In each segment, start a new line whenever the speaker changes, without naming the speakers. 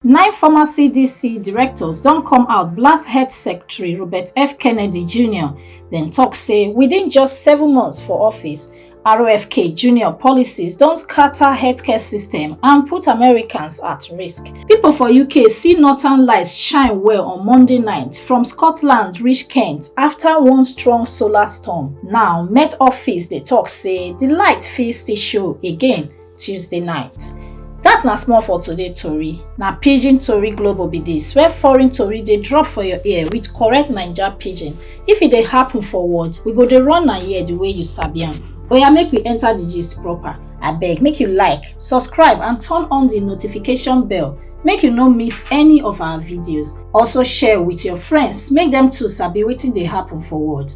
Nine former CDC directors don come out blast health secretary Robert F. Kennedy Jr. Dem talk say within just seven months for office, RFK Jr. policies don scatter healthcare system and put Americans at risk. People for UK see northern lights shine well on Monday night from Scotland reach Kent after one strong solar storm. Now, Met Office dey talk say the light fit still show again Tuesday night. Dat na small for today tori. Na Pidgin Tori Global be dis, where foreign tori dey drop for your ear with correct Naija pidgin. If e dey happen for world, we go dey run am here the way you sabi am. Oya make we enter the gist proper. Abeg make you like, subscribe and turn on the notification bell make you no miss any of our videos. Also share with your friends make dem too sabi wetin dey happen for world.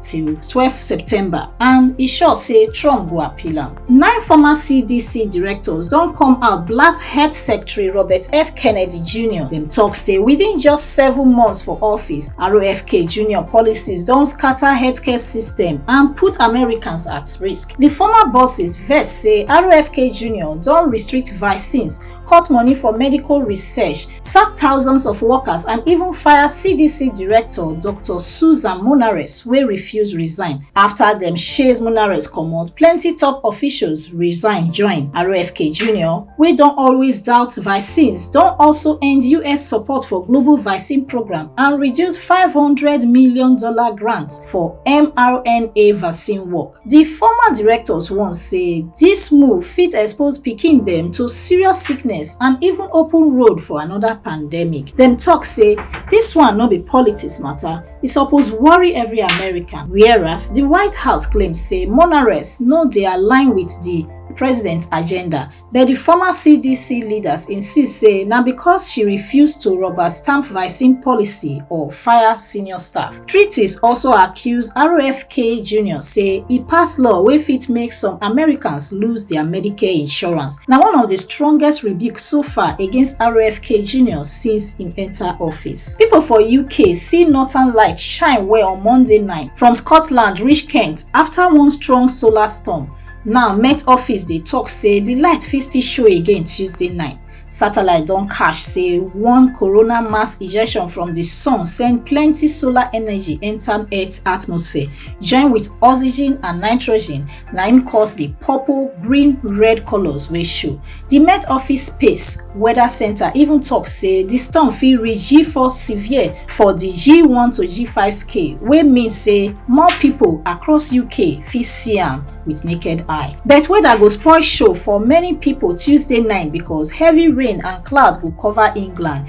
till twelve september and e sure say trump go appeal am nine former cdc directors don come out blast health secretary robert f kennedy jr dem tok say within just seven months for office rofk jr policies don scatter healthcare system and put americans at risk di former bosses vex say rofk jr don restrict vaccines cut money for medical research, sack thousands of workers and even fire CDC director Dr. Susan Munares wey refuse resign. After dem chase Munares comot, plenty top officials resign join. RFK Jr, wey don always doubt vaccines, don also end US support for global vaccine program and reduce $500 million grant for mRNA vaccine work. Di former directors warn say dis move fit expose pikin dem to serious sickness and even open road for anoda pandemic. Dem tok say dis one no be politics mata, e suppose worry every American. Whereas, di White House claim say Monaress no dey align wit di president agenda. But di former CDC leaders insist say na because she refuse to rubber stamp vaccine policy or fire senior staff. Treaties also accuse RFK Jr. say e pass law wey fit make some Americans lose dia Medicare insurance. Na one of di strongest rebuke so far against RFK Jr. since im enta office. Pipo for UK see northern light shine well on Monday night, from Scotland reach Kent afta one strong solar storm. Now, Met Office dey talk say the light fit still show again Tuesday night. Satellite don catch say one corona mass ejection from the sun send plenty solar energy enter Earth atmosphere, join with oxygen and nitrogen, na im cause the purple, green, red colors wey show. Di Met Office Space Weather Centre even tok say di storm fit reach G4 severe for di G1 to G5 scale, wey mean say more pipo across UK fit see am wit naked eye. But weather go spoil show for many pipo Tuesday night becos heavy rain and cloud go cover England,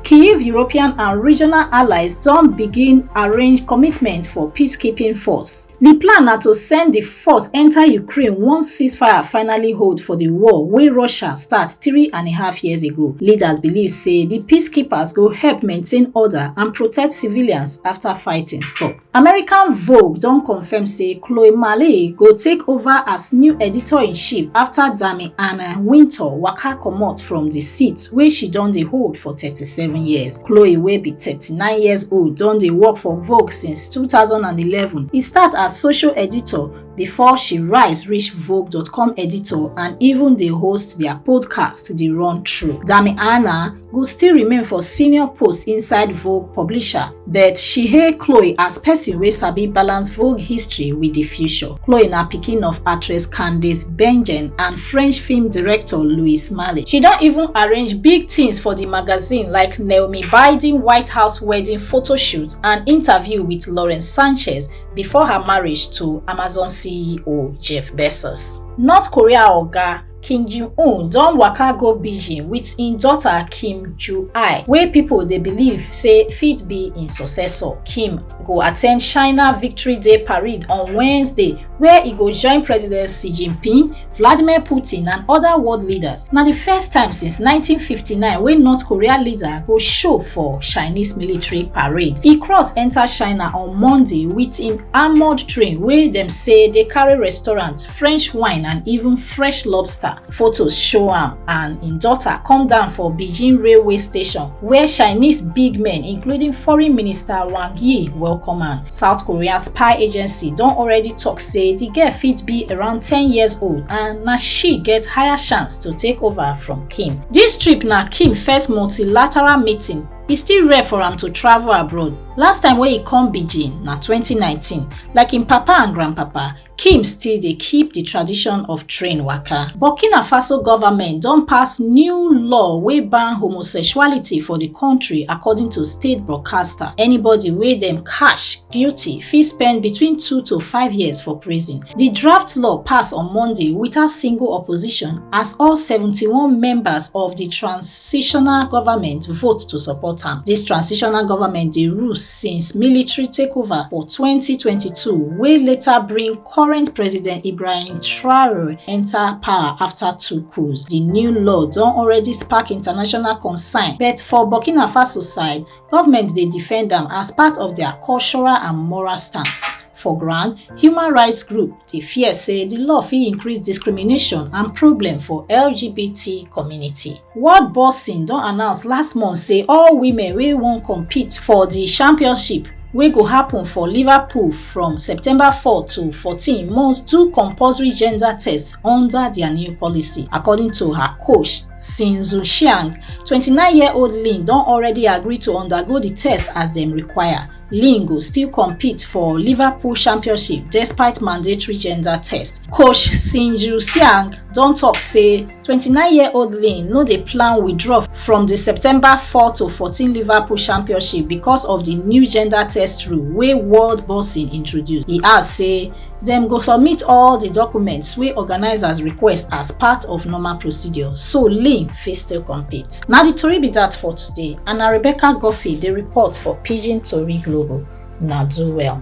Kyiv European and regional allies don begin arrange commitment for peacekeeping force. Di plan na to send di force enta Ukraine once ceasefire finally hold for di war wey Russia start three and a half years ago. Leaders believe say di peacekeepers go help maintain order and protect civilians afta fighting stop. American Vogue don confirm say Chloe Malley go take over as new editor-in-chief after Dami Anna Winter waka comot from the seat wey she don dey hold for 37 years. Chloe wey be 39 years old don dey work for Vogue since 2011. E start as social editor before she rise reach Vogue.com editor and even dey host their podcast The Run Through. Dami Anna go still remain for senior post inside Vogue publisher, but she hail Chloe as person wey sabi balance Vogue history with the future. Chloe na pikin of actress Candice Bergen and French film director Louis Malle. She don even arrange big things for the magazine like Naomi Biden White House wedding photo shoot and interview with Lauren Sanchez before her marriage to Amazon CEO Jeff Bezos. North Korea oga kim jong-un don waka go beijing wit im daughter kim ju-ai wey pipo dey believe say fit be im successor kim go attend china victory day parade on wednesday where e go join president xi jinping vladimir putin and oda world leaders na di first time since 1959 wey north korea leader go show for chinese military parade e cross enta china on monday wit im armoured train wey dem say dey carry restaurant French wine and even fresh lobster. Photos show am and im daughter come down for Beijing railway station where Chinese big men including foreign minister Wang Yi welcome am. South Korea spy agency don already talk say the girl fit be around 10 years old and na she get higher chance to take over from Kim. This trip na Kim first multilateral meeting e still rare for am to travel abroad last time wey e come beijing na 2019 like im papa and grandpapa Kim still dey keep di tradition of train waka. Burkina Faso government don pass new law wey ban homosexuality for di kontri according to state broadcaster. Anybody wey dem catch guilty fit spend between two to five years for prison. Di draft law pass on Monday without single opposition as all seventy-one members of di transitional government vote to support am. Dis transitional government dey rule since military takeover for 2022 wey later bring current president ibrahim traore enta power afta two coups di new law don already spark international concern but for burkina faso side government dey defend am as part of dia cultural and moral stance for ground human rights group dey fear say di law fit increase discrimination and problem for lgbt community World Boxing don announce last month say all women wey wan compete for di championship wey go happen for Liverpool from September 4 to 14 must do compulsory gender test under dia new policy, according to her coach, Xin Zhuxiang. 29-year-old Lin don already agree to undergo di test as dem require. Lin go still compete for Liverpool Championship despite mandatory gender test. Coach Sinju Siang don talk say 29-year-old Lin no dey plan withdraw from the September 4 to 14 Liverpool Championship because of the new gender test rule wey World Boxing introduce. He add say Dem go submit all di documents wey organisers request as part of normal procedure, so Lynn fit still compete. Na di tori be dat for today and na Rebecca Guffey dey report for Pidgin Tori Global. Una do well.